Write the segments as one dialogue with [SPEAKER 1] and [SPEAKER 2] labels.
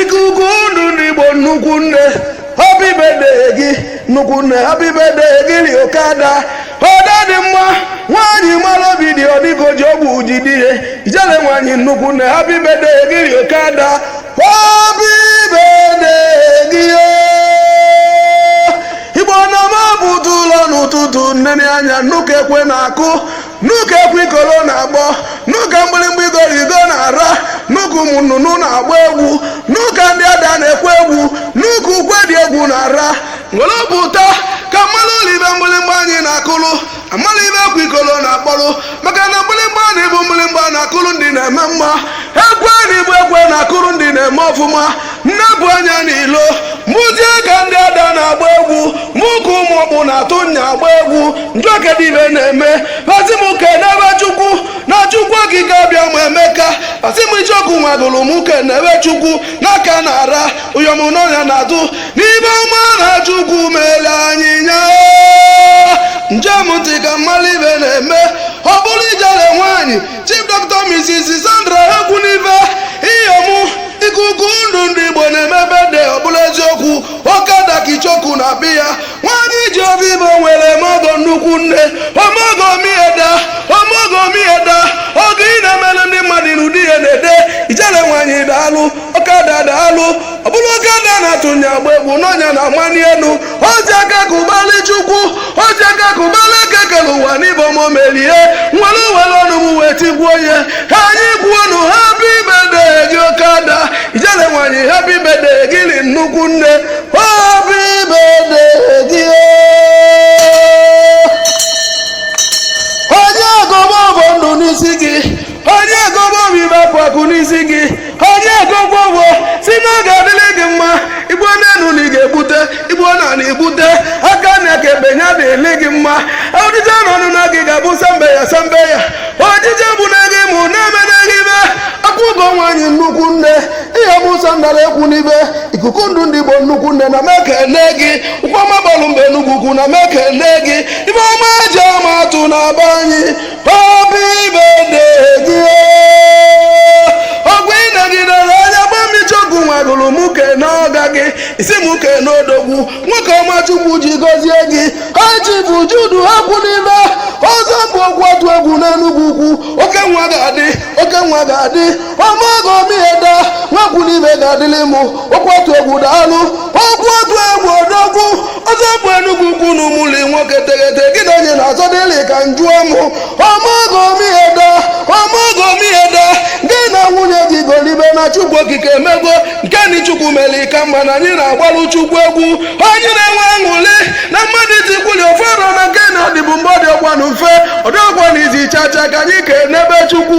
[SPEAKER 1] ikuku ndụ ndị igbo nnukwu nne happy birthday gị nnukwu nne happy birthday dịrị oke ada ada dị mma nwaanyị mara obi di ọdịgo ji ọgwụ ji dị ihe ijele nwaanyị nnukwu nne happy birthday dịrị oke ada happy birthday gị o igbo na m pụta ụlọ n'ụtụtụ nene anya nụ ka ekwe na-akụ nụ ka ekwe ikoro na-akpọ nụ ka mgbịrịmgba igoro igo na-ara nụ ka ụmụ nnụnụ na-agba egwu nụ ka ndị ada na-ekwe egwu nụ ka ukwe dị egwu na-ara were obi ụtọ ka a malụ ife mgbịrịmgba anyị na-akụrụ a mara ife ekwe ikoro na-akpọrụ maka na mgbịrịmgba anyị bụ mgbịrịmgba na-akụrụ ndị na-eme mma ekwe anyị bụ ekwe na-akụrụ ndị na-eme ọfụma m nepụ anya n'ilo m fụzie ka ndị ada na-agba egwu m fụ ka ụmụ ọkpụ na-atụ nya agba egwu m jụọ kedụ ife na-eme a sị m kenebe chukwu na chukwu okike abịama emeka a sị m icheoku nwagụrụ m kenebe chukwu n'aka na-ara iyom nọ nya na-atụ n'ife ọma na chukwu mere anyị nya njem ntị ka m malụ ife na-eme ọ bụrụ ijele nwaanyị Chief Dr. Mrs. Sandra Ekwunife Iyomu ikuku ndụ ndị Igbo na-eme birthday ọ bụlụ eziokwu oke ada ka icheoku na-abịa nwanyị ji oke ife o nwere eme ọgọ nnukwu nne omeọgọ mieda omeọgọ mieda ọgọ ị na-emelụ ndị mmadụ ị nụ ude ya na-ede ijele nwanyị daalụ oke ada daalụ ọ bụlụ oke ada na-atụnye agba egwu nọ nya na-amani elu o ji aka akụ agbara chukwu o ji aka akụ agbara eke kere ụwa n'ife o mere ya nwere nwere ọṅụ m wee tikuo nya anyị kwuonu happy birthday dịlị oke ada ijele nwanyị happy birthday dịlị nnukwu nne happy birthday gị anyị agọba ọfọ ndụ n'isi gị anyị agọba ọfọ ife akụ akụ n'isi gị anyị agọgo ọfọ sị na ọ ga-adịlị gị mma i gbuo n'enu na ị ga-egbute i gbuo n'ana i gbute aka nni aka ekpe ya dịrị gị mma ojije na ọnụna gị ga-abụ sambe ya sambe ya ojije bụ na gị mụ na-eme na gị bụ akwaugo nwaanyị nnukwu nne iyom sandra ekwunife ikuku ndụ ndị igbo nnukwu nne ana m ekele gị ụkwụ ọma bịalụ be enugwu ukwu ana m ekele gị ife ọma eji ama atụ na be anyị ị sị m kene odogwu nwoke ọma chukwu ji gọzie gị high chief jude ekwunife ọzọ bụ okwu atụ egwu n'enugwu ukwu oke nwa ga-adị oke nwa ga-adị omeọgọ o mieda nwa ekwunife ga-adịlị mụ okwu atụ egwu daalụ okwu atụ egwu odogwu ọzọ bụ enugwu ukwu na ụmụli nwoke teghete gị na onye na-azọ dịlị ka njụọ mụ omeọgọ mieda omeọgọ mieda gị na nwunye gị golibe na chukwu okike emego nke ni chukwu mere ka mma na anyị na-agbalụ chukwu egwu anyị na-enwe aṅụrị na mmadụ itikwuli ofe ọrụ na nke na-adịbu mbụ ọ dịọkwanụ mfe ọ dịọkwanụ easy chacha ka anyị kenebe chukwu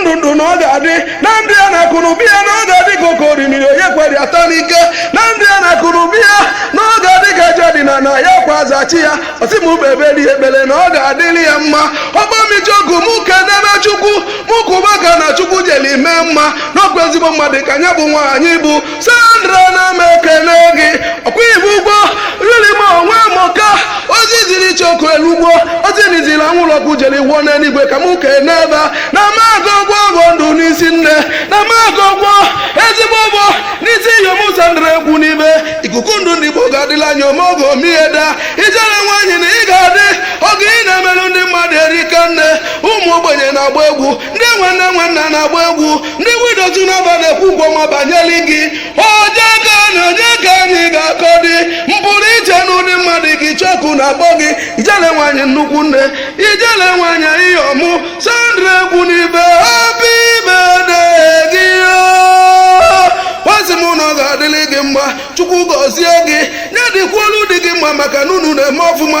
[SPEAKER 1] ndụ ndụ na ọ ga-adị na ndụ ya na akụ na ụba ya na ọ ga-adị ka oke orimiri onye kwere ata n'ike na ndụ ya na akụ na ụba ya na ọ ga-adị ka aja dị n'ana ya kwa zachi ya ọ sị m kpebelụ ya ekpere na ọ ga-adịrị ya mma ọgbamijogu mụ kenebe chukwu mụ kụba aka na chukwu jeli mee mma na ọkwa ezigbo mmadụ ka nya bụ nwaanyị bụ sandra na m ekele gị ọkwa ị bụ ugo rilima onwe mụka ozi e ziri chukwu erugo ozi anyị ziri anwụrụ ọkụ jere ruo n'eluigwe ka mụ kenebe. na mago ugo bụ ndụ n'isi nne na mago ugo ezigbo ugo n'isi iyom sandra ekwunife ikuku ndụ ndị igbo ga-adịla anya omeọgọ mieda ijele nwaanyị na ị ga-adị ọgọ ị na-emelụ ndị mmadụ erika nne ụmụ ogbenye na-agba egwu ndị enwe nne enwe nna na-agba egwu ndị widows n'ebe a na-ekwu okwu ọma banyere gị onye ka anyị onye ka anyị ga-akọ dị mpụrụ iche na ụdị mmadụ gị chọkụ na-akpọ gị ijele nwaanyị nnukwu nne ijele nwaanyị iyom sandra ekwunife obi ibe gị asị m na ọ ga-adịrị gị mma chukwu gọzie gị ya dịkwuolu di gị mma maka na unu na-eme ọfụma